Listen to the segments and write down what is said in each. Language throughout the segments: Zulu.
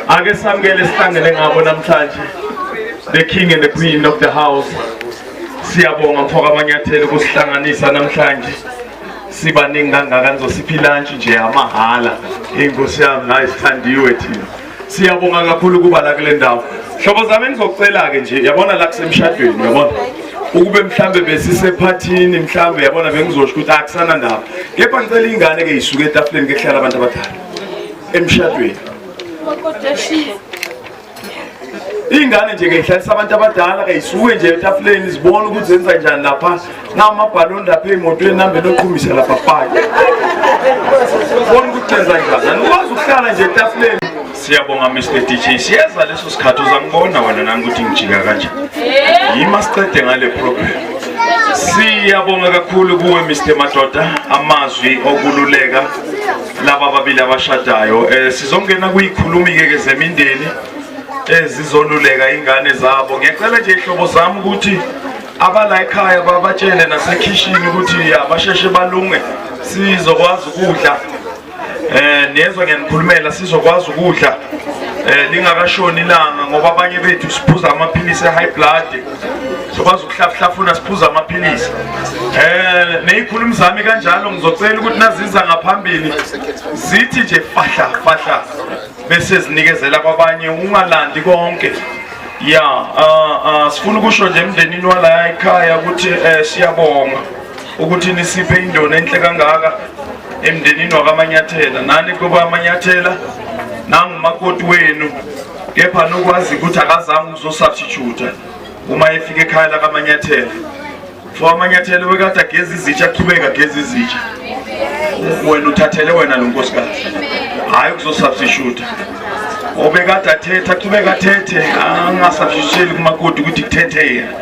ake samukele sihlangene ngabo namhlanje the king and the queen of the house siyabonga mfoka amanyathelo kusihlanganisa namhlanje sibaningi kangaka nizosipha ilantshi nje yamahhala inkosi yami nayi sithandiwe thina siyabonga kakhulu ukuba la kule ndawo hlobo zami engizocela-ke nje yabona la kusemshadweni yabona ukube mhlambe besisephathini mhlambe yabona bengizosho ukuthi akusana ndaba kepha ngicela ingane-ke yisuke etafuleni ke kuhlala abantu abadala emshadweni ingane nje ngeyihlalisa abantu abadala kayisuke nje etafuleni zibone ukuthi zenza njani lapha namabhaloni lapha emotweni nambe noqhumisa lapha pake bona ukuthi zenza njani anikwazi ukuhlala nje etafuleni siyabonga mr dj siyeza leso sikhathi uzangibona wena nami ukuthi ngijika kanje yima siqede ngale program siyabonga kakhulu kuwe mr madoda amazwi okululeka laba ababili abashadayo um sizongena kuyikhulumi-ke ke zemindeni ezizoluleka ingane zabo ngiyacela nje ihlobo zami ukuthi abala ekhaya babatshele nasekhishini ukuthi abasheshe balunge sizokwazi ukudla eh nezwe ngenikhulumela sizokwazi ukudla eh lingakashoni ilanga ngoba abanye bethu siphuza amaphilisi e-high blood zokwazi ukuhlafuhlafuna siphuza amaphilisi um neyikhulumi zami kanjalo ngizocela ukuthi naziza ngaphambili zithi nje fahla fahla bese zinikezela kwabanye ungalandi konke ya uh, uh, sifuna ukusho nje emndenini walaya ekhaya ukuthi um siyabonga ukuthi nisiphe indona enhle kangaka emndenini wakamanyathela nani kuba amanyathela nangumakoti wenu kepha nokwazi ukuthi akazange ukuzosubstituta uma efika ekhaya lakamanyathela for amanyathelo wekade ageza izitsha aqhubeke ageza izitsha wena uthathele wena lo nkosikazi hhayi ukuzosubstituta obekade athethe aqhubeke athethe angasabshisheli kumakoti ukuthi kuthethe yena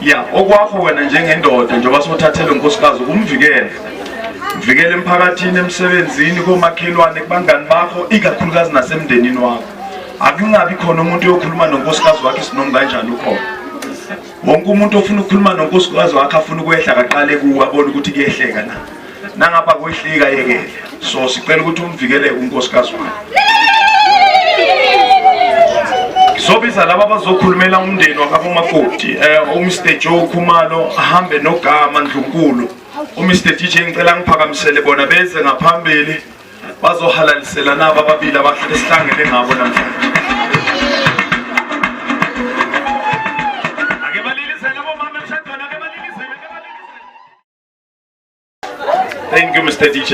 ya okwakho wena njengendoda njengoba sothathele nkosikazi ukumvikela mvikele emphakathini emsebenzini komakhelwane kubangani bakho ikakhulukazi nasemndenini wakho akungabi khona umuntu oyokhuluma nonkosikazi wakhe sinomu kanjani ukhona wonke umuntu ofuna ukukhuluma nonkosikazi wakhe afuna ukwehla kaqale kuwe abone ukuthi kuyehleka na nangapha kwehlika yekele so sicela ukuthi umvikeleke unkosikazi wakhe ngizobiza laba abazokhulumela umndeni wakabomakoti um eh, umr joe khumalo ahambe nogama ndlunkulu umr dj ngicela ngiphakamisele bona beze ngaphambili bazohalalisela nabo ababili abahle esihlangene ngabo namhlanje Thank you Mr DJ.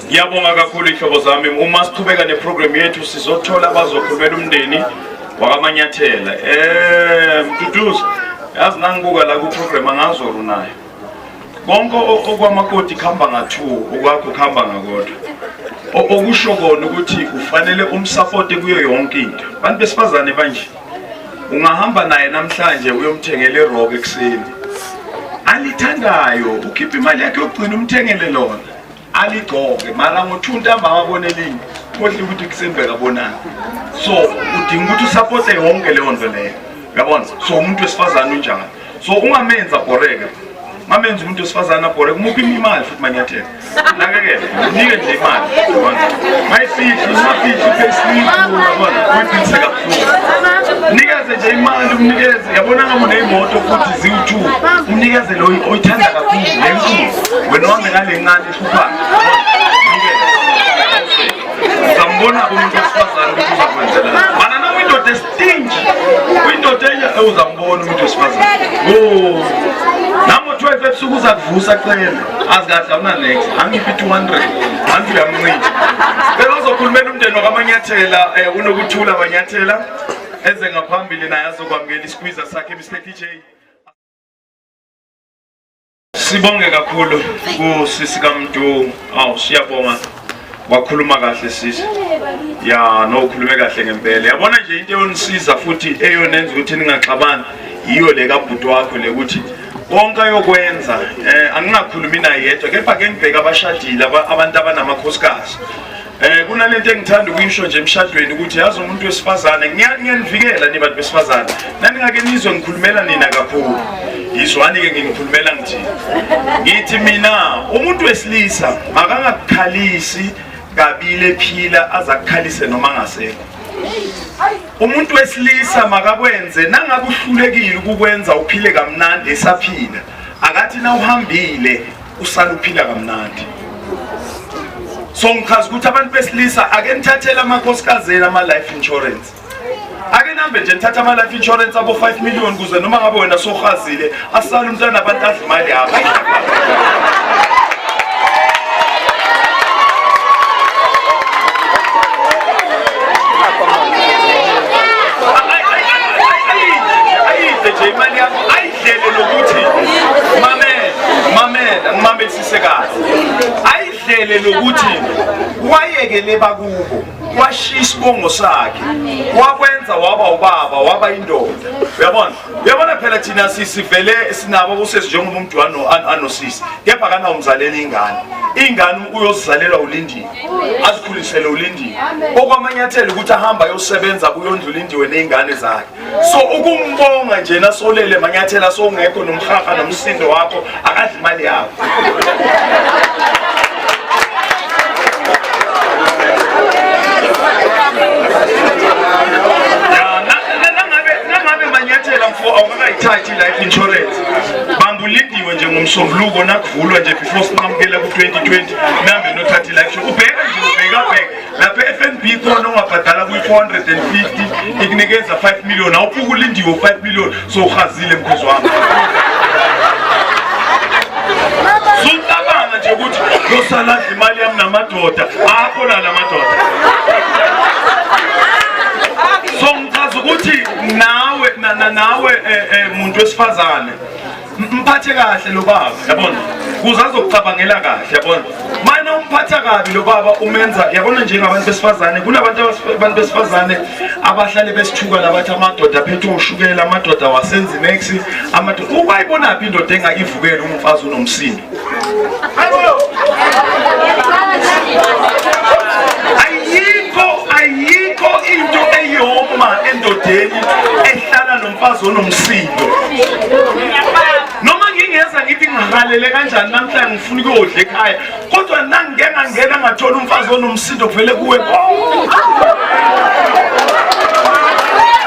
Ngiyabonga kakhulu ihlobo zami. Uma siqhubeka neprogram yethu sizothola abazokhulumela umndeni wakamanyathela. Eh, Mduduzi, yazi nangibuka la ku program angazoru nayo. konke okwamakoti kuhamba ngathuo okwakho kuhamba ngakodwa okusho kona ukuthi ufanele umsapote kuyo yonke into abantu besifazane banje ungahamba naye namhlanje uyomthengela irock ekuseni alithandayo ukhipha imali yakhe yokugcina umthengele lona aligcoke mara ngo-two ntambama abone elinye kohle ukuthi kusembeka bonani so udinga ukuthi usapote yonke leyo nto leyo yabona so umuntu wesifazane unjani so ungamenzi abhoreke mamenza umuntu wesifazane abhoreke umuphi imali futhi manyathela nakekele nike nje imali mayifihli umafihli payslip yabona uyiphiliseka nikeze nje imali umnikeze yabona ngabe uneyimoto futhi ziwu-two umnikeze lo oyithanda kakhulu lenkulu wena uhambe ngale ncane ehluphayo uzambona-ke umuntu wesifazane ukuthi uzakwenzela mana noma indoda estinji uyindoda enye uzambona umuntu wesifazane o namo-twelve ebusuku uzakuvusa cele azi kahle awunanex angiphi 200 anti uyamncika cela uzokhulumela umndeni wakamanyathela um eh, unokuthula manyathela eze ngaphambili naye azokwamukela isikwiza sakhe mr dj sibonge kakhulu kusisi kamdu awu siyabonga wakhuluma kahle sisi ya no ukhulume kahle ngempela yabona nje into eyonisiza futhi eyonenza ukuthi ningaxabani yiyo le kabhuti wakho le ukuthi konke ayokwenza um eh, angingakhulumi naye yedwa kepha ke ngibheke abashadile abantu abanamakhosikazi Eh kunalento engithanda ukuyisho nje emshadweni ukuthi yazi umuntu wesifazane ngiyanivikela nibantu besifazane Naningake nizwe ngikhulumela nina kakhulu. Yizwani ke ngikhulumela ngithi. Ngithi mina umuntu wesilisa makangakukhalisi kabile phila azakukhalise noma ngasekho. Umuntu wesilisa makakwenze nangakuhlulekile ukukwenza uphile kamnandi esaphila. Akathi na uhambile usaluphila kamnandi. So ngichaza ukuthi abantu besilisa ake nithathele amakhosikazi ama life insurance. ake nambe nje nithatha ama-life insurance abo 5 million kuze noma ngabe wena sohazile asale umntana abantu adla imali yakho ngibambisise kahle ayidlele lokuthi wayekele bakubo washiya isibongo sakhe wakwenza waba ubaba waba indoda uyabona uyabona phela thina sisivele sinabo kusesi njengoba umntwana anosisi kepha kana umzaleli ingane ingane uyozizalelwa ulindiwe azikhulisele ulindiwe okwamanyathelo ukuthi ahamba ayosebenza kuyondla ulindiwe nezingane zakhe so ukumbonga nje nasolele manyathela sowungekho nomhaha nomsindo wakho akadli imali yakho awukakayithathi i-life insurance bambulindiwe nje ngomsombuluko nakuvulwa nje before sinqamukela ku-2020 nihambe nothatha i-life ubheka nje ubhekabheka lapha e-fnb khona ungabhadala kwi-450 ikunikeza 5 million awuphuke ulindiwe 5 million sowuhazile mkhozi wami sucabanga nje ukuthi yosaladla imali yami namadoda akhona la madoda so ngichaza ukuthi nawe nawe um eh, eh, muntu wesifazane mphathe kahle lo baba yabona kuze azokucabangela kahle yabona mana umphatha kabi lo baba umenza yabona njengabantu besifazane kunabantu abantu besifazane abahlale besithuka labathi amadoda aphethe ushukela amadoda wasenzinex amadoda ubayibonaphi indoda engakivukela umfazi unomsindo ayikho ayikho into eyoma endodeni ehlala nomfazi onomsindo ngivalele kanjani namhlanje ngifuna ukuyodla ekhaya kodwa nangingeke ngangena ngathola umfazi onomsindo kuvele kuwe konke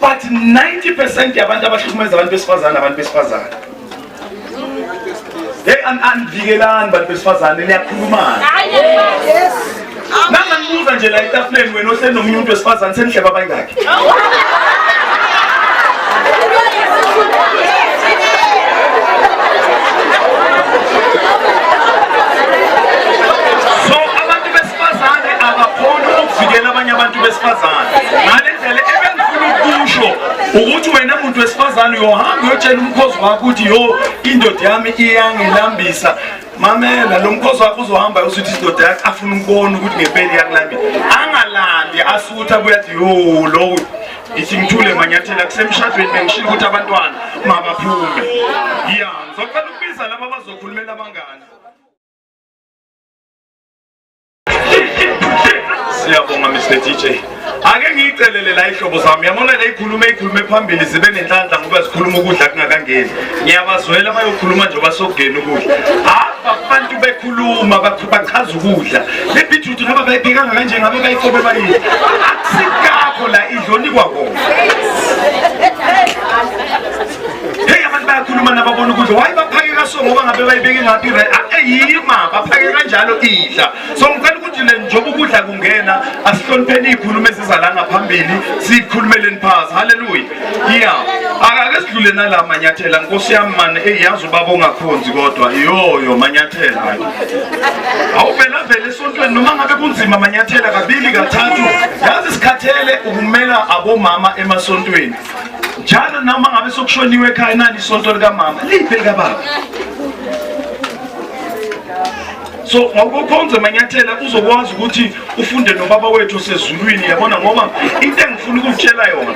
but 90 percent yabantu abahlukumeza abantu besifazane abantu besifazane hey andivikelani bantu besifazane niyakhulumana nanganibuza nje la etafuleni wena ohleli nomunye umuntu wesifazane senihleba abangakhe Abesifazane abakhoni ukuvikela abanye abantu besifazane ngale ndlela ebengifuna ukusho ukuthi wena muntu wesifazane uyohamba uyotshela umkhozi wakho ukuthi yo indoda yami iyangilambisa mamela lo mkhosi wakho uzohamba usuthi isidoda yakho afuna ukubona ukuthi ngempela iyakulambile angalandi asutha abuye athi yo lowo ithi ngithule manyathela kusemshadweni bengishilo ukuthi abantwana mabaphume ya ngizocela ukubiza laba bazokhulumela abangani siyabonga mr dj ake ngiyicelele la ihlobo zami yabona la ikhuluma ikhulume phambili zibe nenhlanhla ngoba zikhuluma ukudla kungakangeni ngiyabazwela bayokhuluma nje basokugena ukudla hava abantu bekhuluma bachaza ukudla lebhithuthi naba bayiphekanga kanje ngabe bayikobe bayini akusikakho la idlonikwa kona Hey abantu bayakhuluma nababona ukuthi why baphakeka so ngoba ngabe bayibeke ngaphi right ayima ah, baphakeka kanjalo idla so ngicela ukuthi le njoba ukudla kungena asihlonipheni ikhulume sizala ngaphambili sikhulumeleni phasi haleluya yeah akake sidlule nala manyathela nkosi yami mane eyazi ubaba ongakhonzi kodwa yoyo manyathela awuvela vele esontweni noma ngabe kunzima manyathela kabili kathathu yazi sikhathele ukumela abomama emasontweni njalo noma ngabe sokushoniwe ekhaya nani isonto likamama liphi likababa so ngokukhonza manyathela uzokwazi ukuthi ufunde nobaba wethu osezulwini yabona ngoba into engifuna ukutshela yona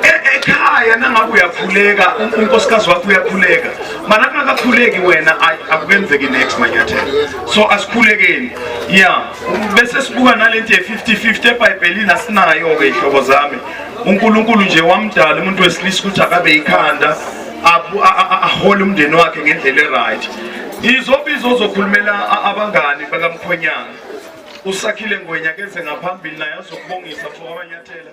e-, ekhaya nangabe uyakhuleka unkosikazi wakho uyakhuleka mana kungakakhuleki wena akubenzeki next manyathela so asikhulekeni ya bese sibuka nalento ye-50 50 ebhayibhelini asinayo-ke iy'hlobo zami uNkulunkulu nje wamdala umuntu wesilisa ukuthi akabe ikhanda ahole umndeni wakhe ngendlela eright izobizo ozokhulumela abangani bakamkhwenyana usakhile ngwenya kenze ngaphambili naye azokubongisa mfokamanyathela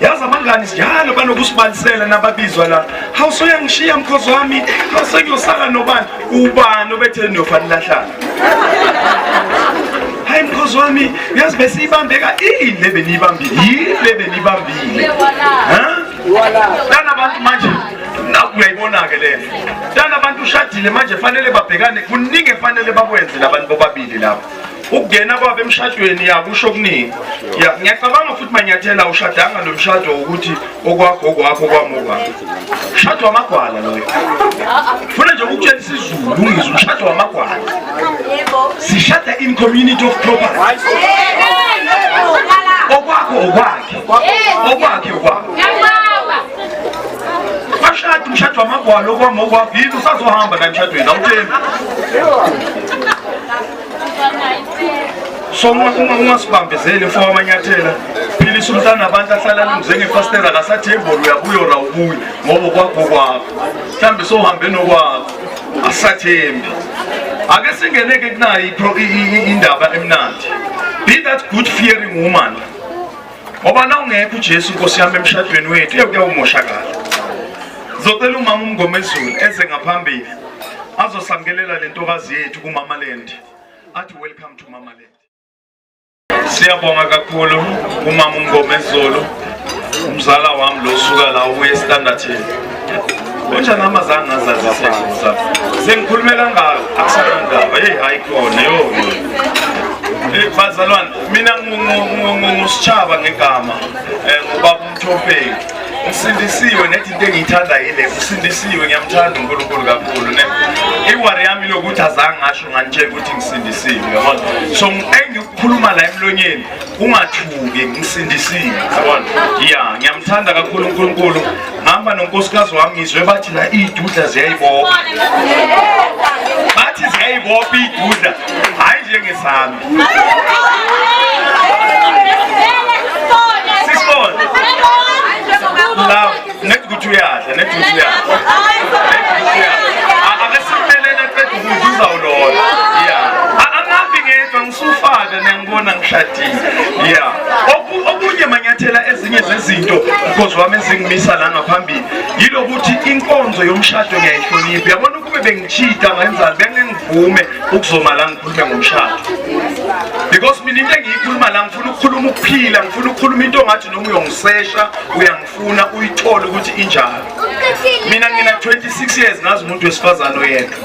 yazi abangani njalo banokusibalisela nababizwa la hawu soyangishiya mkhozi wami sengiyosala nobani ubani obetheni niyofa nilahlana hayi mkhozi wami uyazi besiyibambeka ini le beniyibambile yini le beniyibambile lana bantu manje uyayibona-ke le lana bantu ushadile manje fanele babhekane kuningi efanele bakwenze labantu bobabili lapho ukungena kwabo emshadweni yakusho okuningi ngiyacabanga futhi manyathela ushadanga lo mshado wokuthi okwakho okwakho kwamoba mshado wamagwala loyo funa nje ukutshela isizulu ungizwe umshado wamagwala sishada in community of property okwakho okwakhe okwakhe okwakho Washada umshado wamagwala okwama okwakho yini usazohamba naye emshadweni awuthembi. So uma uma ungasibambezeli mfo wamanyathela philisa umntana abantu ahlala lumze ngefastela akasathemboli uyabuyo ra ubuye ngoba kwakho kwakho. Mhlambe sohambe nokwakho asathembi. Ake singeneke kunayo indaba emnandi. Be that good fearing woman. ngoba na ungekho ujesu nkosi yami emshadweni wethu eyo kuyawumoshakala zocela umama umngomezulu eze ngaphambili azosamkelela le ntokazi yethu kumamaland athi welcome to mamaland siyabonga kakhulu umama umngomezulu umzala wami lo suka la ubuye estandardini Unjani mama zange ngazazi session sakho. Sengikhulumela ngayo akusanandaba. Hey hayi khona yo. Eh, bazalwane mina ngusishaba ngegama eh, ngubaba umthopeki ngisindisiwe nethi into engiyithanda yile ngisindisiwe ngiyamthanda unkulunkulu kakhulu ne iwari yami lokuthi azange ngasho nganitshela ukuthi ngisindisiwe yabona so engikukhuluma la emlonyeni ungathuki ngisindisile yabona ya ngiyamthanda kakhulu uNkulunkulu ngihamba nonkosikazi wami ngizwe bathi la idudla ziyayibopha bathi ziyayibopha idudla hayi njengesami sisibona la nethi ukuthi uyadla nethi ukuthi uyadla Ngibona ngishadile. Yeah. Oku- Okunye manyathela ezinye zezinto because wami ezingimisa la ngaphambili yilokuthi inkonzo yomshado ngiyayihlonipha. Yabona ukube bengichita ngenzani bengengivume ukuzoma la ngikhulume ngomshado. Because mina into engiyikhuluma la ngifuna ukukhuluma ukuphila, ngifuna ukukhuluma into ongathi noma uyongisesha uyangi funa uyithole ukuthi injalo mina ngina 26 years ngazi umuntu wesifazane oyedwa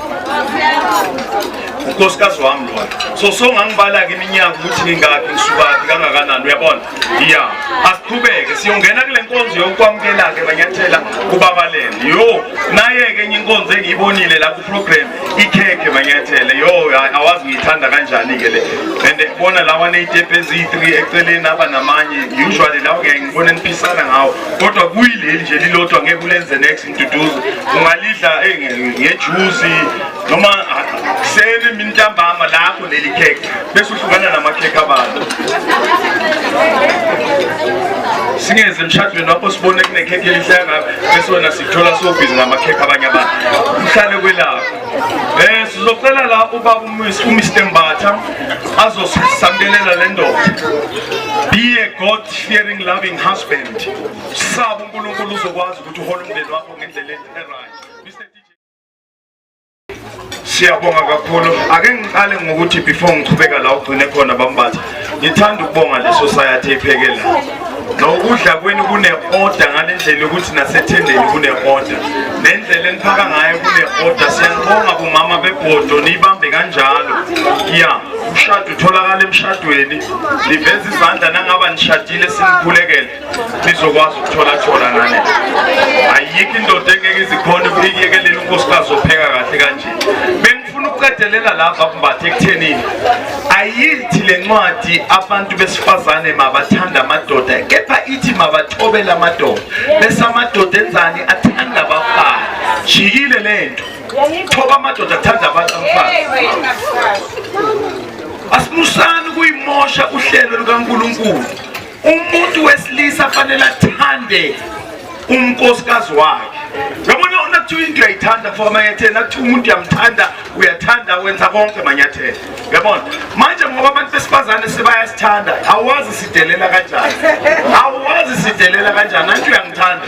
unkosikazi wami lona so so ngangibala-ke iminyaka ukuthi ngingakhi ngisukaphi kangakanani uyabona ya asiqhubeke siyongena kule nkonzo yokwamukela-ke manyathela kubabalele yo naye-ke enye inkonzo engiyibonile lapho problem ikhekhe manyathele yo awazi ngiyithanda kanjani ke le and bona lawa neyitepe eziyi-3 eceleni aba namanye usually lawo ngeke ngibone niphisana ngawo kodwa kuyileli nje lilodwa ngeke ulenze next ntuduzo ungalidla eh, ngejuzi noma ah, seni mintambama lapho leli khekhe bese uhlukana namakhekhe abantu singeze emshadweni wakho sibone kunekhekhe elihle kangaka bese wena sikuthola sobhizi ngamakhekhe abanye abantu uhlale kwelakho um sizocela la ubaba umr mbatha azosamkelela le ndoda be a god fearing loving husband saba unkulunkulu uzokwazi ukuthi uhole umndeni wakho ngendlela e-right siyabonga kakhulu ake ngiqale ngokuthi before ngiqhubeka la ugcine khona bambatha ngithanda ukubonga le society ephekela nokudla kwenu kune-oda ngale ndlela yokuthi nasethendeni kune-oda nendlela eniphaka ngayo kune-oda siyanibonga bomama bebhodo niyibambe kanjalo ya umshado utholakala emshadweni liveza izandla nangaba nishadile sinikhulekele nizokwazi ukuthola thola nani ayikho indoda engeke izikhona iyekelele unkosikazi opheka kahle kanje bengifuna ukuqedelela lava kumbatha ekuthenini ayithi le ncwadi abantu besifazane mabathanda amadoda kepha ithi mabathobele amadoda bese amadoda enzani athanda abafana jikile le nto thoba amadoda athanda abantu abafana asimusani ukuyimosha uhlelo lukankulunkulu umuntu wesilisa fanele athande unkosikazi wakhe yabona ona kuthiwa into uyayithanda for amanyathelo nakuthiwa umuntu uyamthanda uyathanda wenza konke manyathelo yabona manje ngoba abantu besifazane sebayasithanda awazi sidelela kanjani awazi sidelela kanjani anti uyangithanda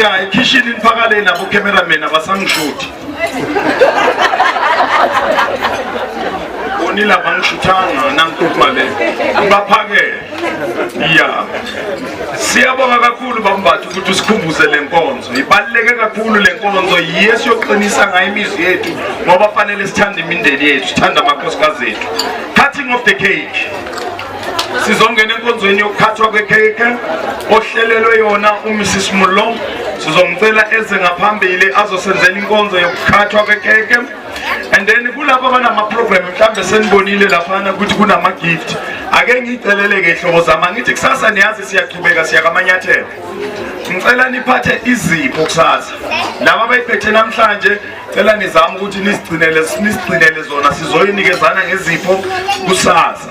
ya ekhishini niphakale nabo cameraman abasangishuthi bonile abangishuthanga nangikhuluma le baphakele ya siyabonga kakhulu bambatha ukuthi usikhumbuze le nkonzo ibaluleke kakhulu le nkonzo yiye siyoqinisa ngayo imizwi yethu ngoba fanele sithande imindeni yethu sithande amakhosikazi ethu cutting of the cake sizongena enkonzweni yokuphathwa kwekhekhe ohlelelwe yona umrs mullo sizomcela eze ngaphambili azosenzela inkonzo yokukhathwa kwekhekhe and then kulapho abanamaprogram mhlawumbe senibonile laphana ukuthi kunama-gift ake ngiyiceleleke hlobo zama ngithi kusasa niyazi siyaqhubeka siyakamanyathelo ngicela niphathe izipho kusasa laba abayiphethe namhlanje cela nizame ukuthi nisigcinele nisigcinele zona sizoyinikezana ngezipho kusasa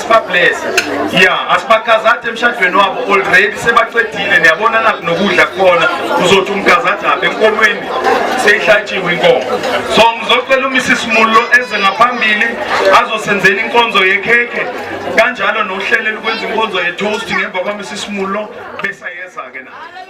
sibablese ya asibakazade emshadweni wabo already sebaqedile niyabona nakho nokudla kukhona uzothi umkazade apha enkomweni seyihlatshiwe inkomo so ngizocela umisisi mullo eze ngaphambili azosenzela inkonzo yekhekhe kanjalo nohlelo lokwenza inkonzo yetoast ngemva kwamisisi mullo besayeza-ke naye